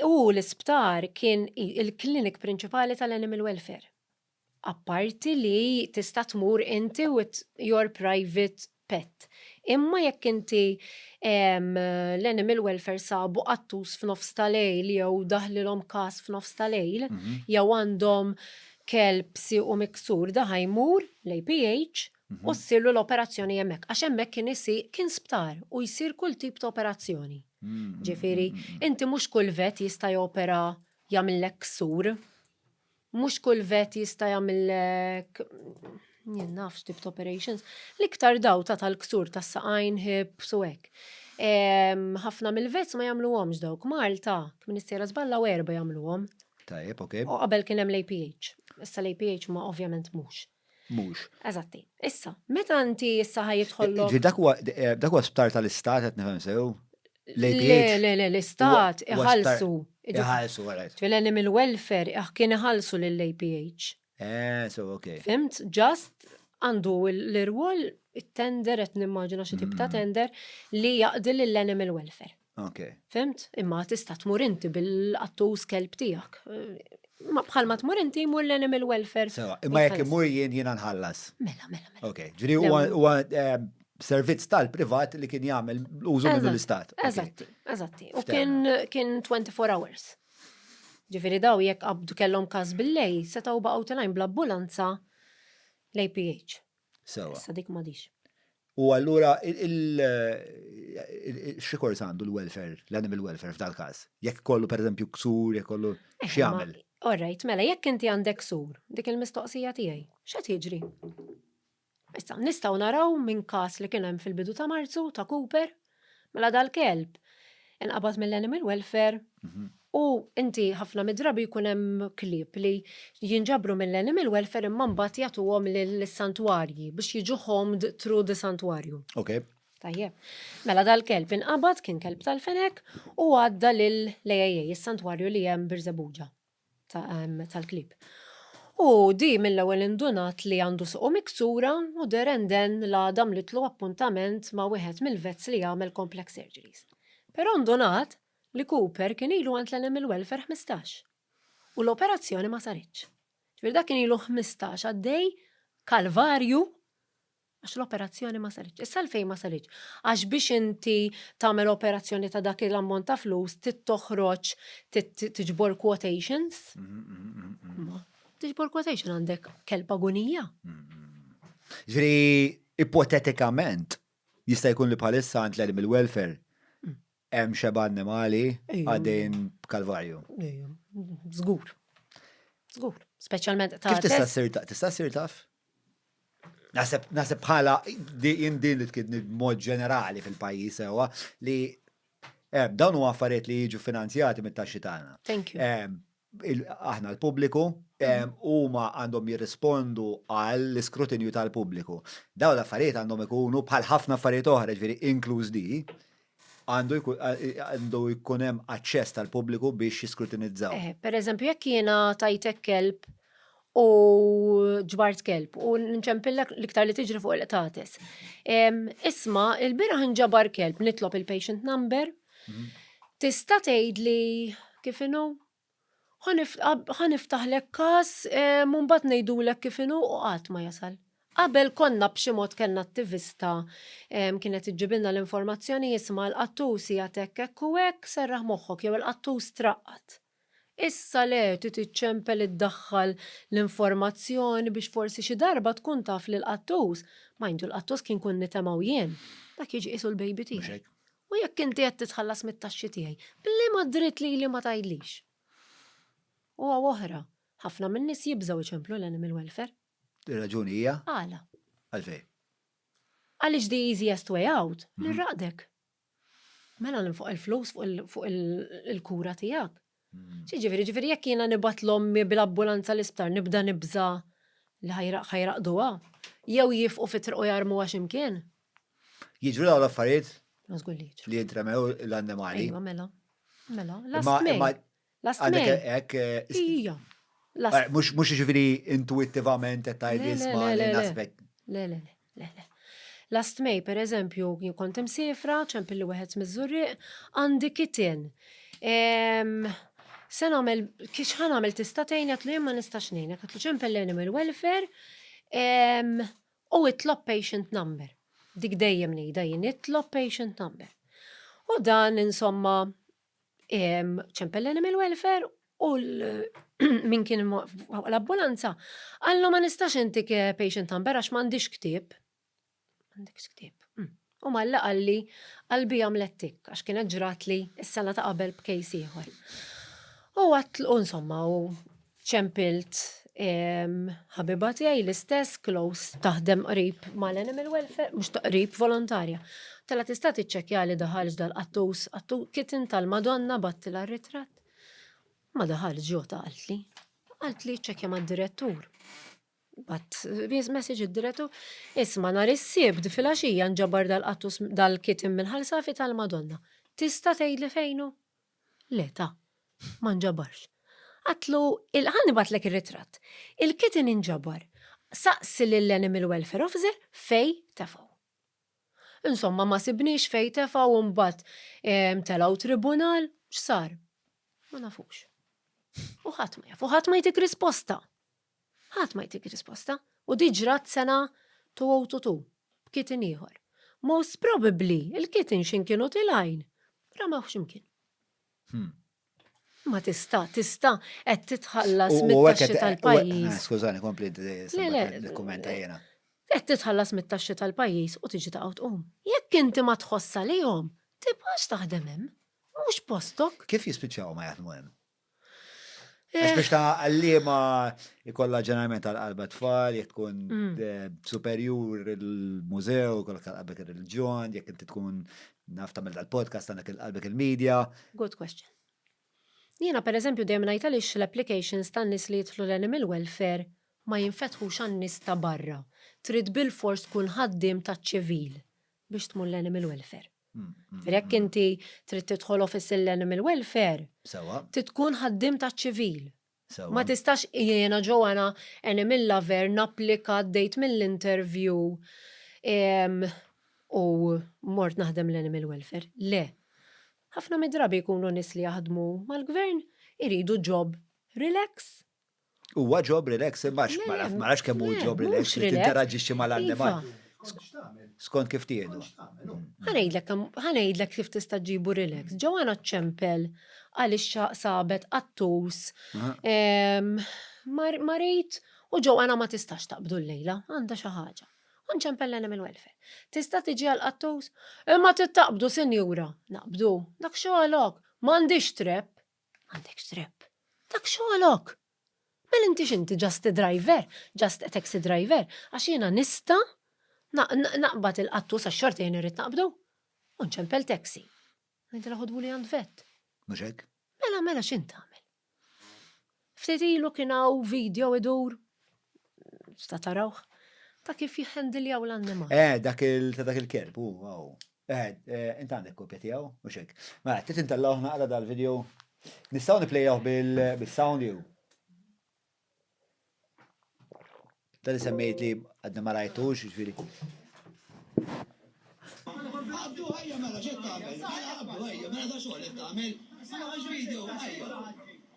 U l-isptar kien il-clinic prinċipali tal-animal welfare. Apparti li tista' tmur inti with your private pet. Imma jekk inti l-animal welfare sabu qattus f'nofs ta' lejl jew daħlilhom każ f'nofs ta' lejl, jew għandhom kelb siequ miksur, da ħa jmur l-APH u ssirlu l-operazzjoni hemmhekk. Għax hemmhekk kien isir, kien sptar u jsir kull tip ta' operazzjoni. Ġifieri, inti mhux kull vet jista' jopera jagħmillek ksur. Mhux kull vet jista' jagħmillek jien naf x'tip ta' operations. L-iktar daw ta' tal-ksur tas-saqajn, hips u hekk. Ħafna mill-vets ma jagħmluhomx dawk. Malta, minn is-sejra żball hawn erbgħa jagħmluhom. Tajjeb, ok. U qabel kien hemm l-APH. Issa l-APH ma ovvjament mhux. Mhux. Eżatti. Issa, meta inti issa ħajidħollok. Ġi dak huwa eh, dak huwa sptar tal-istat qed nifhem sew. Le, le, le, l-istat iħallsu. Iħallsu, għalajt. Ġifieri mill welfare eh, kien iħallsu lill-APH. Eh, so, ok. Fimt, just għandu l-irwol it-tender, et nimmaġina xi tip ta' mm. tender, li jaqdi l-animal welfare. Ok. Fimt? Imma tista' tmur inti bil-qattus kelb tiegħek. Ma bħal ma tmur inti jmur l-animal welfare. Sewa, imma jekk imur jien jiena nħallas. Mela, mela, mela. Ok, ġri huwa eh, servizz tal-privat li kien jagħmel użu minnu l-istat. Eżatti, eżatti. U kien 24 hours. Ġifiri daw jekk qabdu kellhom każ bil-lej, setgħu baqgħu telajn bl-ambulanza l-APH. Sewa. Issa dik madix. U allura xikors għandu l-welfare, l-animal welfare f'dal każ? Jekk kollu per eżempju ksur, jekk kollu eh, x'jagħmel? Orrejt, mela jekk inti għandek ksur, dik il-mistoqsija tiegħi, x'qed jiġri? Issa nistgħu naraw minn każ li kien hemm fil-bidu ta' Marzu ta' Cooper, Mela dal-kelb inqabad mill-animal welfare u inti ħafna mid-drabi jkun hemm klieb li jinġabru mill-animal welfare imma mbagħad jagħtuhom lis-santwarji biex jiġu homed through the santwarju. Okay. Tajjeb. Mela dal-kelb inqabad kien kelb tal-fenek u għadda lill-AAA, is-santwarju li hemm Birżebbuġa. tal-klieb. U di mill-ewwel indunat li għandu suqu miksura u Deren Den l-għada għamlitlu appuntament ma' wieħed mill-vets li jagħmel complex surgeries. Però ndunat li Cooper kien ilu għand l-għalem il-welfare ħmistax u l-operazzjoni ma saritx. Ġifieri dak kien ilu ħmistax għaddej kalvarju Għax l-operazzjoni ma saritx. Issa għalfejn ma saritx? Għax biex inti tagħmel operazzjoni ta' dak l-ammont ta' flus trid toħroġ tiġbor quotations. Tiġbor quotation għandek kelb agunija. Ġri, ipotetikament, jista' jkun li bħalissa għand l-animal welfare Hemm xeba' annimali għaddejjin b'kalvarju. Ejja, żgur. Żgur. Speċjalment ta' Kif tista' ssir taf? Tista' ssir taf? Naħseb naħseb bħala din din li tkidni b'mod ġenerali fil-pajjiż sewwa li eh, dawn huma affarijiet li jiġu finanzjati mit-taxxi tagħna. Thank you. Eh, aħna l-pubbliku, huma għandhom jirrispondu għall-iskrutinju tal-pubbliku. Dawn l-affarijiet għandhom ikunu bħal ħafna affarijiet oħra, jiġifieri inkluż di, għandu jkun hemm aċċess tal-pubbliku biex jiskrutinizzaw. Pereżempju, jekk jiena tajtek kelb u ġbart kelb u nċempillek l-iktar li tiġri fuq il-qtates. Isma, il-biraħ nġabar kelb nitlob il-patient number. Mhm. Tista' tgħid li kif inhu? Ħaniftaħlek każ eh, mbagħad ngħidulek kif inhu u qatt ma jasal. Qabel konna b'xi mod kellna attivista kienet iġġibilna l-informazzjoni jisma' l-qattus hija tekk hekk u hekk serraħ moħħok jew il-qattus traqqat. Issa le, trid iċċempel iddaħħal l-informazzjoni biex forsi xi darba tkun taf li l-qattus, mind you l-qattus kien kun nitemgħu jien, dak jiġi qisu l-baby tiegħi. U jekk inti qed titħallas mit-taxxi tiegħi, b'liema dritt lili ma tgħidlix? U hawn oħra, ħafna min-nies jibżgħu jċemplu l-animal welfare. Ir-raġuni hija? Għala? Għalfejn? Għaliex the easiest way out, nirraqdek. Mela ninfoq il-flus fuq il-kura tiegħek. Ġifieri, ġifieri jekk jiena nibgħat l-ommi bil-ambulanza l-isptar nibda nibża li ħajraqduha jew jifqu fit-triq u jarmuha x'imkien. Jiġru dawn l-affarijiet? Li jitremew l-annimali. Iva, mela. Mela, l-astmej. Last Għandek May. hekk eh, Ija. Last eh, mhux mhux jiġifieri intuittivament qed tgħid Le, le, isma' le, li le, le. naspek. Le, le, le, le, le. Last May, per eżempju, jien kont imsifra, ċempilli wieħed miż-żurriq, għandi kitin. Em, Se nagħmel, kiex ħan għamel tista' tgħin qed li jien ma nistax ngħinek, qed li ċempel l-animal welfare em, u itlob patient number. Dik dejjem ngħidha jien, itlob patient number. U dan insomma ċempel l-animal welfare u min kien l-ambulanza għallu ma nistax intik eh, patient number għax m'għandix ktib. M'għandix ktib. Hmm. U malla għalli għalbi għamlettik għax kienet ġrat li s-sena ta' qabel b'kejs ieħor. U għatlu insomma u ċempilt ħabiba tiegħi l-istess close taħdem qrib mal-animal welfare, mhux taqrib volontarja. Tala tista' tiċċekkja li daħalx dal-qattus, kitten tal-Madonna battila ritratt. Ma daħalx ġo taqaltli. Qaltli ċċekkja mad-direttur. Bat message id-direttur, isma nhar is-sibt fil-għaxija nġabar dal-qattus dal-kitten mill-ħalsafi tal-Madonna. Tista' tgħidli fejnu? Le, ta. Ma nġabarx. Għadtlu, ħa nibgħatlek ir-ritratt. Il-kitten inġabar. Saqsi lill-Animal Welfare Officer fejn tefgħu. Insomma, ma sibniex fejn tefgħu u mbagħad telgħu tribunal, x'sar? Ma nafux. U ħadd ma jaf, u ħadd ma jtik risposta. Ħadd ma jtik risposta, u di ġrat sena two o two two, b'kitten ieħor. Most probably, il-kitten x'in kienu tilgħin, ramewh x'imkien. Hmm. Ma tista, tista, qed titħallas mit-taxxi tal-pajjiż. Ah, skużani, kompli l-kumenta jena. Qed titħallas mit-taxxi tal-pajjiż u tiġi taqgħu tqum. Jekk inti ma tħossa lihom, tibqax taħdem hemm. Mhux postok. Kif jispiċċaw ma jaħdmu hemm? Għax biex ta' għallima ikolla ġeneralment għal-qalba tfal, jek tkun mm. eh, superjur il-mużew, kolla għal-qalbek il-reġjon, jek inti tkun naf ta' dal-podcast għandek il-qalbek il-medja. Good question. Jiena per eżempju dejjem ngħid għaliex l-applications tan-nies li jidħlu l-animal welfare ma jinfetħux għan-nies ta' barra. Trid bil-fors tkun ħaddiem taċ-ċivil biex tmur l-animal welfare. Jekk inti trid tidħol office l-animal welfare, trid tkun ħaddiem taċ-ċivil. Ma tistax jiena Joanna animal lover napplika għaddejt mill-interview u mort naħdem l-animal welfare. Le. Ħafna mid-drabi jkunu nies li jaħdmu mal-gvern iridu job relax Huwa job relax, ma nafx kemm hu job relax li tinteraġixxi mal-annimal. Skont kif tieħdu. Ħanejdlek ħanejdlek kif tista' ġibu relax. Ġewwana ċempel għaliex sabet qattus. Marid u ġewwana ma tistax taqbdu llejla, għandha xi ħaġa. U nċempel l-animal welfare. Tista' tiġi għal qattus? Imma trid taqbdu sinjura. Naqbdu. Dak xogħlok. M'għandix trep. M'għandek x'trebb. Dak xogħolok! Mela inti x'inti, just a driver? Just a taxi driver? Għax jiena nista' naqbad il-qattus għax xorta jien irrid naqbdu. U nċempel taxi. Ngħidilha ħodhuli għand vett. Mhux hekk? Mela, mela x'int tagħmel? Ftit ilu kien hawn video idur, sta tarawh, ta' kif jħendiljaw l-annimal. Eh, dak il-kelb, u, Ehed, int għandek kopja tiegħu, mhux hekk? Mela, trid intellgħuh naqra dal-video? Nistgħu nipplejjawh bis-sound jew? Dan li semmejt li għadni ma rajtux, ġifieri. Abdu ħajja mela x'qed tagħmel? Mela abdu ħajja, mela da xogħol qed tagħmel? Mela ħax video, ħajja.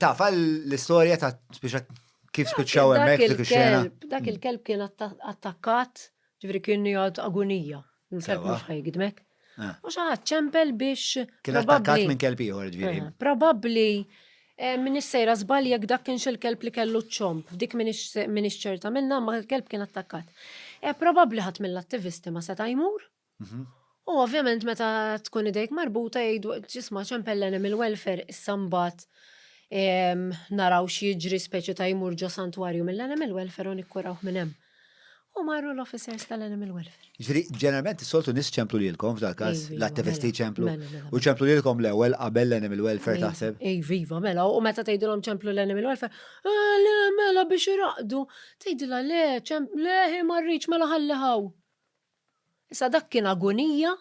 Taf l-istorja ta' spiċċa kif spiċċaw hemmhekk dik ix-xena? Dak il-kelb kien attakkat, ġifieri kien jgħid agunija. Il-kelb mhux ħajgidmek. U xi ħadd ċempel biex. Kien attakkat minn kelb ieħor ġifieri. Probabbli Eh, minix sejra żball jekk dak kienx il-kelb li kellu ċ-ċomb, dik minix ċerta minna ma l-kelb kien attakkat. Eh, probabbli ħadd mill-attivisti ma seta' jmur. Mhm. U ovvjament meta tkun idejk marbuta jgħidu ġisma ċempel l-animal welfare issa mbagħad naraw xieġri speċi ta' jmur ġo santwarju mill-animal welfare u nikkurawh minn hemm. U marru l-officers tal-animal welfare. Ġri, ġeneralment soltu nis ċemplu lilkom f'dal każ, Iva, l-attivisti mela, ċemplu. Mela, mela, mela. U ċemplu lilkom l-ewwel qabel l-animal welfare iva, taħseb. Ej, viva, mela, u meta tgħidilhom ċemplu l-animal welfare, eh, le, mela biex iraqdu, tgħidilha le, ċemplu, le, hi marriċ, mela ħalli ħaw. Issa dak kien agonija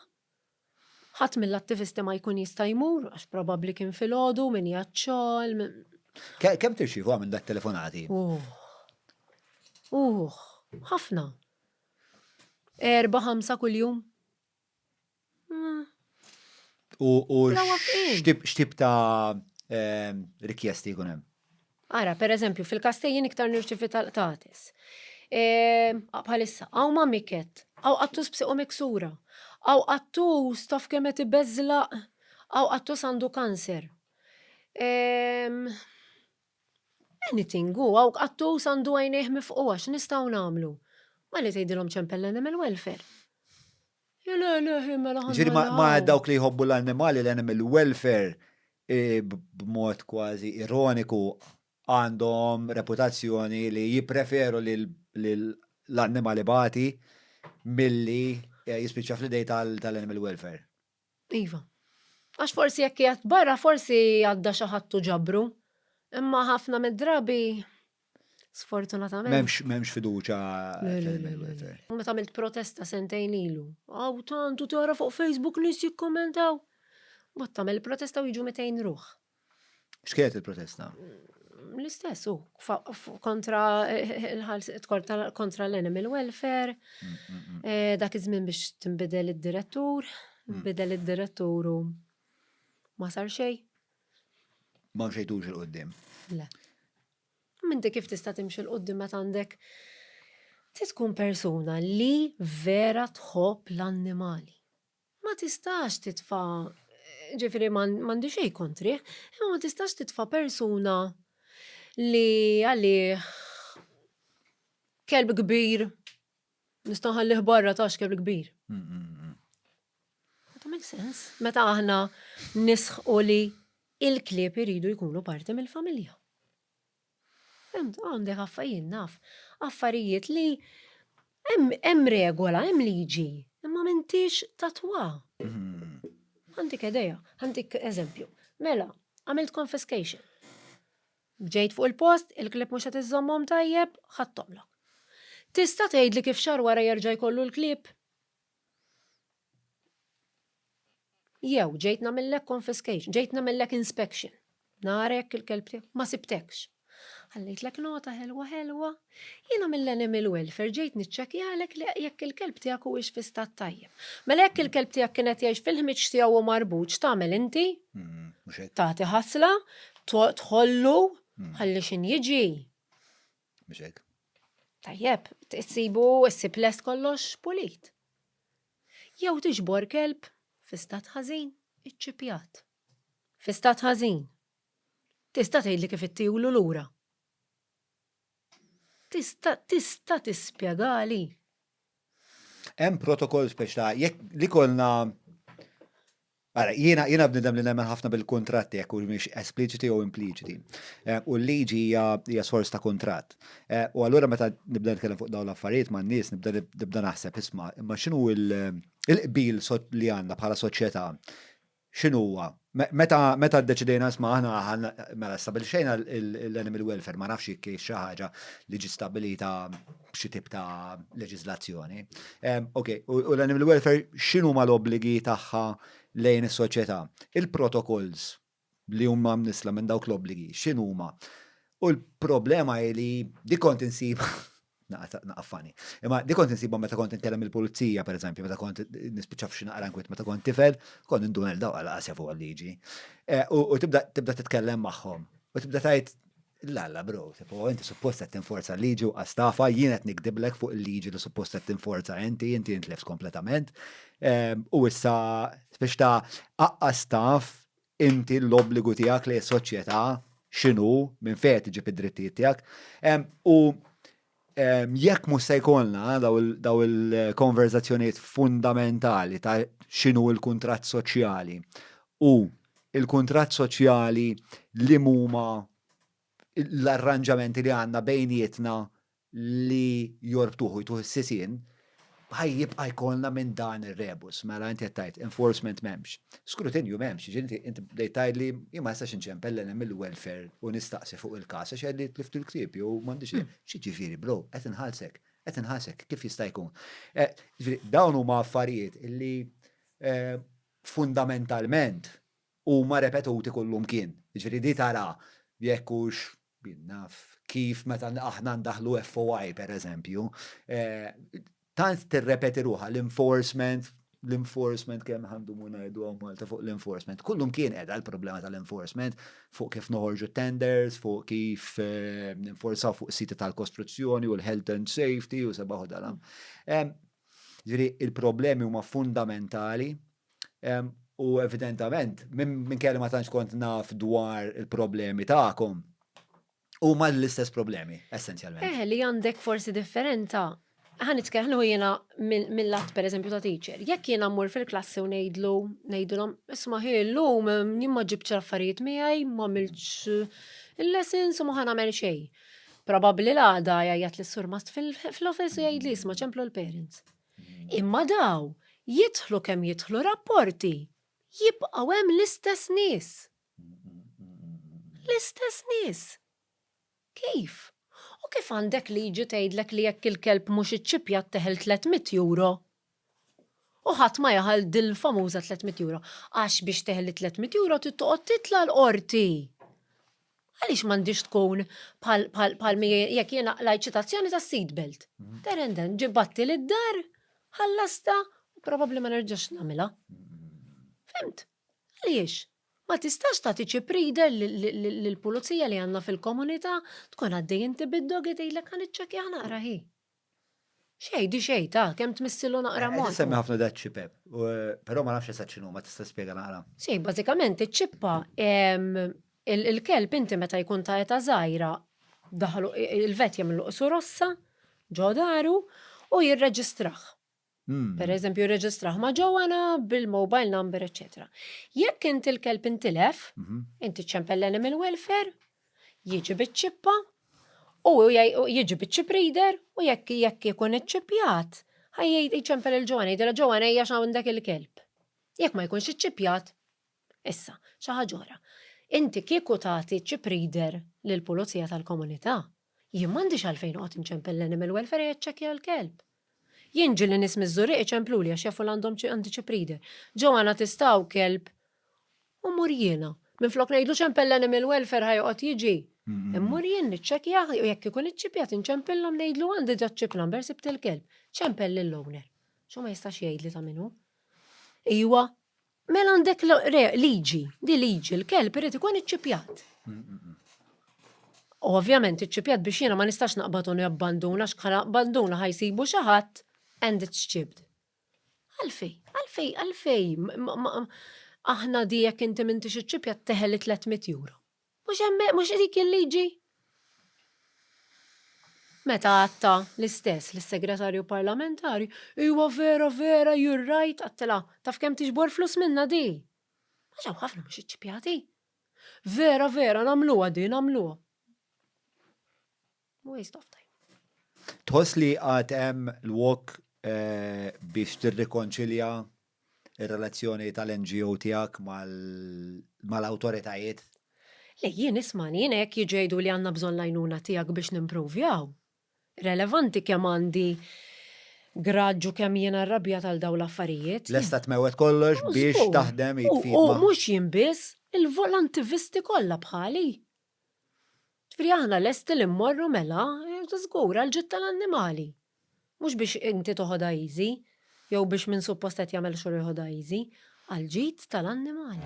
Ħadd mill-attivisti ma jkun jista' jmur għax probabbli kien filgħodu, min qiegħed xogħol, min. Kemm tirċievu għamil da telefonati? Uħ. Uħ. Ħafna. Erba, ħamsa kuljum. Hmm. U xtib ta' ehm, rikjesti jkun hemm? Ara, per eżempju, fil-Kastejjin iktar nirċivi tal-qtates. Bħalissa, għaw ma miket, għaw għattus b'siqu miksura, għaw għattus taf kemet ibeżla, għaw għattus għandu kanser. Anything, għaw għattus għandu għajnejh mifqua, x'nistgħu nagħmlu? Malli tgħidilhom ċempel l-animal welfare. Ġiri ma dawk li jħobbu l-annimali, l-animal welfare, b'mod kważi ironiku, għandhom reputazzjoni li jippreferu li l-annimal ibati milli jispiċċa fl-idejn tal-animal welfare. Iva. Għax forsi jekk qiegħed barra forsi għadda xi ħadd u ġabru. Imma ħafna mid-drabi sfortunatament. M'hemmx m'hemmx fiduċja fil-welfare. Meta għamilt protesta sentejn ilu, hawn tant u tara fuq Facebook nies jikkummentaw. Mbagħad tagħmel protesta u jiġu 200 ruħ. X'kienet il-protesta? L-istess u kontra kontra l-animal welfare, mm, mm, mm. Eh, dak iż-żmien biex tinbidel id-direttur, bidel id-direttur u ma sar xejn. Ma mxejtux il-qoddim. Le. Minti kif tista' timxi l-qoddim meta għandek tkun persuna li vera tħobb l-annimali. Ma tistax titfa', jiġifieri ma għandi xejn kontrih, imma ma tistax titfa' persuna li għalih kelb kbir nista' nħallih barra taf x'kelb kbir. That makes sense. Meta aħna nisħqu li l-klieb iridu jkunu parti mill-familja. Fimt, għandek affa jien naf affarijiet li hemm hemm regola, hemm liġi, imma m'intix tatwa. Għandik idea, għandik eżempju. Mela, għamilt confiscation. Ġejt fuq il-post, il-klieb mhux qed iżommhom tajjeb, ħadthomlok. Tista' tgħidli kif xahar wara jerġa' jkollu l-klieb? Jew ġejt nagħmillek confiscation, ġejt nagħmillek inspection. Narek il-kelb tiegħek, ma sibtekx. Ħallejtlek nota ħelwa ħelwa, jiena mill-animal welfare ġejt niċċekjalek li jekk il-kelb tiegħek huwiex fi stat tajjeb. Mela jekk il-kelb tiegħek kienet jgħix fil-ħmiġ tiegħu u marbuġ tagħmel inti? Hmm, Tagħti ħasla, tħollu, hmm. ħalli x'in jiġi. Mhux hekk? Tajjeb, tsibu ssib lest kollox pulit. Jew tiġbor kelb fi stat ħażin, iċċipjat. Fi stat ħażin. Tista' tgħidli kif ittiewlu lura? Tista' tista' tispjegali? Hemm protokoll speċta jekk li kolna Ara, jiena, jiena bnidem li nemmen ħafna bil-kuntratti jekk humiex espliċiti jew impliċiti. Eh, u l-liġi hija hija sors ta' kuntratt. Eh, u allura meta nibda nitkellem fuq dawn l-affarijiet ma' nies nibda nibda naħseb isma' imma x'inhu il-qbil li għandna bħala soċjetà x'inhuwa meta meta ddeċidejna isma' aħna mela stabilixxejna l-animal welfare ma nafx jekk xi ħaġa li ġi stabilita b'xi tip ta' leġislazzjoni. Ok, u l-animal welfare xinu ma l-obbligi tagħha lejn is-soċjetà? Il-protokolls li huma mnisla minn dawk l-obbligi xinu ma? U l-problema li dikont insib naqaffani. Imma di kont insibhom meta kont inkellem il-pulizija, per eżempju, meta kont nispiċċa f'xi naqra nkwiet meta kont tifel, kont indun il daw għal qasja fuq għal-liġi. Eh, u tibda titkellem magħhom. U tibda tajt Lalla bro, tipo, inti suppost qed tinforza l-liġi u qastafa, jien qed nikdiblek fuq il-liġi li suppost qed tinforza inti, inti intlefs kompletament. Ehm, u issa biex ta' aqqas taf inti l-obbligu tiegħek li s-soċjetà x'inhu minn fejn tiġib id-drittijiet tiegħek. Ehm, u Jekk mhux se jkollna daw il-konverżazzjonijiet fundamentali ta' x'inhu l-kuntratt soċjali u l-kuntratt soċjali li huma l-arranġamenti li għandna bejnietna li jorbtuh u jtuh is-sisien, Ħa jibqa' jkollna minn dan ir-rebus. Mela inti qed tgħid enforcement m'hemmx. Skrutinju m'hemmx, jiġifieri inti bdejt tgħidli jien ma nistax inċempel lil hemm il-welfare u nistaqsi fuq il-każ għax jgħidli tlift il-ktieb jew m'għandix il-, x'jiġifieri bro, qed inħallsek, qed inħallsek, kif jista' jkun? Jiġifieri dawn huma affarijiet li fundamentalment huma repetuti kullimkien. Jiġifieri li tara jekk hux, jien naf, kif meta aħna ndaħħlu FOI pereżempju, tant tirrepeti ruħha l-enforcement, l-enforcement kemm ħa ndumu ngħidu hawn Malta fuq l-enforcement. Kullimkien qiegħda l-problema tal-enforcement fuq kif noħorġu t-tenders, fuq kif ninforzaw fuq is-siti tal-kostruzzjoni u l-health and safety u sebaħ u dalam. Jiġifieri l-problemi huma fundamentali U evidentament, minkejja li ma tantx kont naf dwar il-problemi tagħkom, huma l-istess problemi, essenzjalment. Eh, li għandek forsi differenza. Ħa nitkellmu jiena mill-lat pereżempju ta' teacher. Jekk jiena mmur fil-klassi u ngħidlu, ngħidulhom, isma' ħi llum jien ma ġibtx affarijiet miegħi, ma għamiltx il-lessons u ma ħa nagħmel xejn. Probabbli l-għada jgħajjat lis-surmast fil-office u jgħidli isma' ċemplu l-parents. Imma daw, jidħlu kemm jidħlu rapporti, jibqgħu hemm l-istess nies. L-istess nies. Kif? U kif għandek liġi tgħidlek li jekk il-kelb mhux iċċippjat teħel tliet mitt euro? U ħadd ma jeħel dil-famuża tliet mitt euro, għax biex teħli tliet mitt euro trid toqgħod titla' l-Qorti. Għaliex m'għandhiex tkun bħal bħal bħal mi jekk jiena qlajt ċitazzjoni tas-seat belt? There and then, ġibattli lid-dar, ħallastha u probabbli ma nerġax nagħmilha. Fhimt? Għaliex? Ma tistax tagħti chip reader lill-pulizija li għandna fil-komunità, tkun għaddej inti bid-dog jgħidilek ħa niċċekkjah naqra hi. Xej, di xej, ta, kem tmissilu naqra mod. Qed semmi ħafna dat ċipep, però ma nafx eżatt x'inhu, ma tista' spjega naqra. Si, bażikament iċ-ċippa il-kelb inti meta jkun ta' eta żgħira daħlu il-vet jagħmlu qsu rossa ġo daru u jirreġistrah. Per eżempju, jirreġistraħ ma' ġowana bil-mobile number, eccetera. Jekk inti l-kelb intilef, mhm. inti ċempel l-animal welfare, jiġi biċ-ċippa, u jiġi biċ-ċip reader, u jekk jekk ikun iċċippjat, ħajjid iċempel il-ġowana, jidela ġowana hija x'għandek il-kelb. Jekk ma jkunx iċċippjat, issa, xi ħaġa Inti kieku tagħti ċip reader lill-pulizija tal-komunità, Jien m'għandix għalfejn noqgħod inċempel l-animal welfare jaċċekkja l-kelb. Jien ġieli nies miż-Żurrieq iċempluli għax jafu li għandhom għandi xi breeder. Joanna tista' hawn kelb u mmur jiena. Minflok ngħidlu ċempel l-animal welfare ħa joqgħod jiġi. Immur jien niċċekkjah u jekk ikun iċċipjat inċempillhom ngħidlu għandi ġa ċ-chip number sibt il-kelb. Ċempel lill-owner. X'hu ma jistax jgħidli ta' min hu. Iwa, Mela għandek liġi, di liġi, l-kelb irid ikun iċċipjat. U ovvjament iċċipjat biex jiena ma nistax naqbad u nabbanduna x'bħala abbanduna ħajsibu xi ħadd and it's chipped. Għalfej, għalfej, għalfej, aħna di jekk inti m'intix iċċipjat teħel 300 euro. Mhux hemm mhux dik il-liġi? Meta għadtha l-istess lis-Segretarju Parlamentari, Iwa vera vera you're right għadtilha, taf kemm tiġbor flus minnha di? Għax hawn ħafna mhux iċċipjati. Vera vera nagħmluha di nagħmluha. Waste of time. Tħoss li għad hemm lwok biex tirrikonċilja r-relazzjoni tal-NGO tiegħek mal-awtoritajiet? Le, jien ismagħni, jiena jekk jiġu jgħiduli għandna bżonn l-għajnuna tiegħek biex nimpruvjaw, relevanti kemm għandi graġġ u kemm jiena rrabjat għal dawn l-affarijiet. Lesta tmewwet kollox biex taħdem id f'id ma'. U mhux jien biss, il-volantivisti kollha bħali. Ġifieri aħna lesti li mmorru mela, żgur, għall-ġid tal-annimali. Mhux biex inti toħodha easy, jew biex min suppost qed jagħmel xogħol joħodha easy, għall-ġid tal-annimali.